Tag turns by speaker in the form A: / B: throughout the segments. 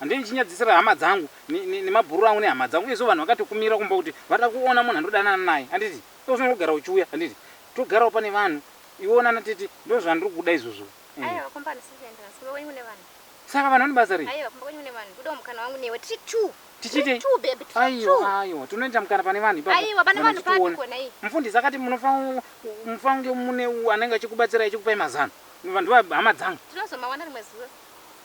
A: Handei ndichinyadzisira hama dzangu nemabhururu angu nehama dzangu uyezve vanhu vakatokumirira kumba kuti vada kuona munhu andodanana naye handiti ndokufanira kugara uchiuya handiti togarawo pane vanhu iwewo nana tete ndozvandiri kuda izvozvo
B: saka vanhu vane basa rei tichite
A: aiwa
B: aiwa tinoita
A: mukana pane vanhu ipaotiona
B: mufundisi akati
A: munofange mune anenge achikubatsirai achikupai mazano vanhu vahama dzangu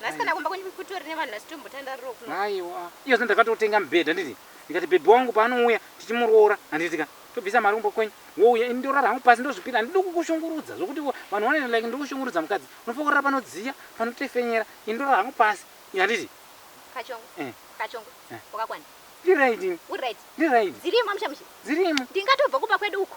B: Nhasi kana kumba kwenyu kutori nevanhu vasitombotandariro kuno. Aiwa. Iyo sendakatotenga
A: mubhedha nditi ndikati baby wangu paanouya tichimuroora handiti ka tobvisa mari kumba kwenyu wouya ini ndorara hangu pasi ndozvipira handidi kukushungurudza zvokuti vanhu vanoita like ndiri kushungurudza mukadzi unofokorera panodziya panotefenyera ini ndorara hangu pasi handiti Kachongo. Eh. Kachongo.
B: Eh. Wakakwana. ndiraidi
A: Uri right. ndiraidi
B: Dzirimo mushe mushe. dzirimo Ndingatobva
A: kumba kwedu
B: uko.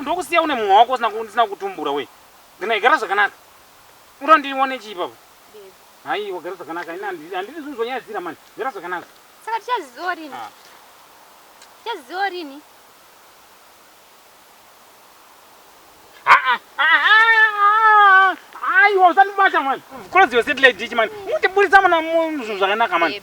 A: Ndokusiya une mumwe wako usina kutumbura we. Ndina igara zvakanaka. Unoda ndione chii baba? Hai, wagara zvakanaka. Ina handidi zvinhu zvonyadzira mani. Gara zvakanaka. Saka
B: tichaziziwa rini?
A: Ah. Tichaziziwa rini? Aiwa, usandibata mani. Close your satellite dish mani. Mutiburitsa mwana muzvinhu zvakanaka mani.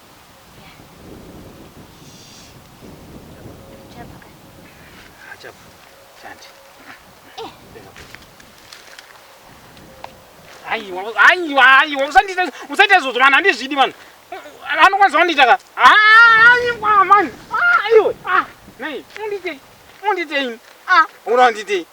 A: aiwa aiwa aiwa usandiita usaita izvozvo vanhu handizvidi vanhu anokwanisa vandiita ka aiwa mani aiwe nei undiitei undiitei ura undiitei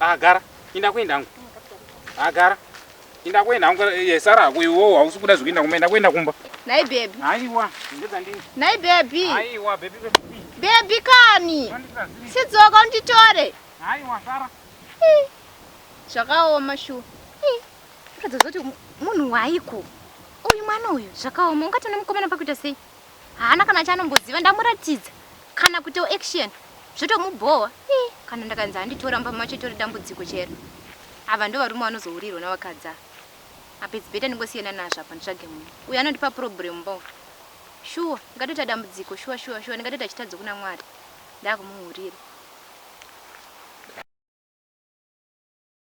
A: Ah, gara. Inda kuenda hangu. Ah, gara. Inda kuenda hangu. Ye sara hako iwo hausi kuda zvekuenda kumba. Inda kuenda kumba. Nai baby. Aiwa, ndedza ndini. Nai baby. Aiwa,
B: baby
A: baby. Baby
B: kani. Sidzoka unditore. Aiwa, sara.
A: Zvakaoma
B: shu. Ndikadzozoti munhu waiko. Uyu mwana uyu zvakaoma. Ungatona mukomana pakuita sei? haana kana chaanomboziva ndamuratidza kana kuti action zvotomubhowa ii kana ndakanzi handitora mba macho itori dambudziko chero ava ndo varume vanozourirwa navakadza apa its better ndingosiyana nazvo apa nditsvage munhu uyo anondipa problem bo shuwa ndingatoita dambudziko shuwa shuwa shuwa ndingatoita chitadzo kuna mwari ndakumuhurira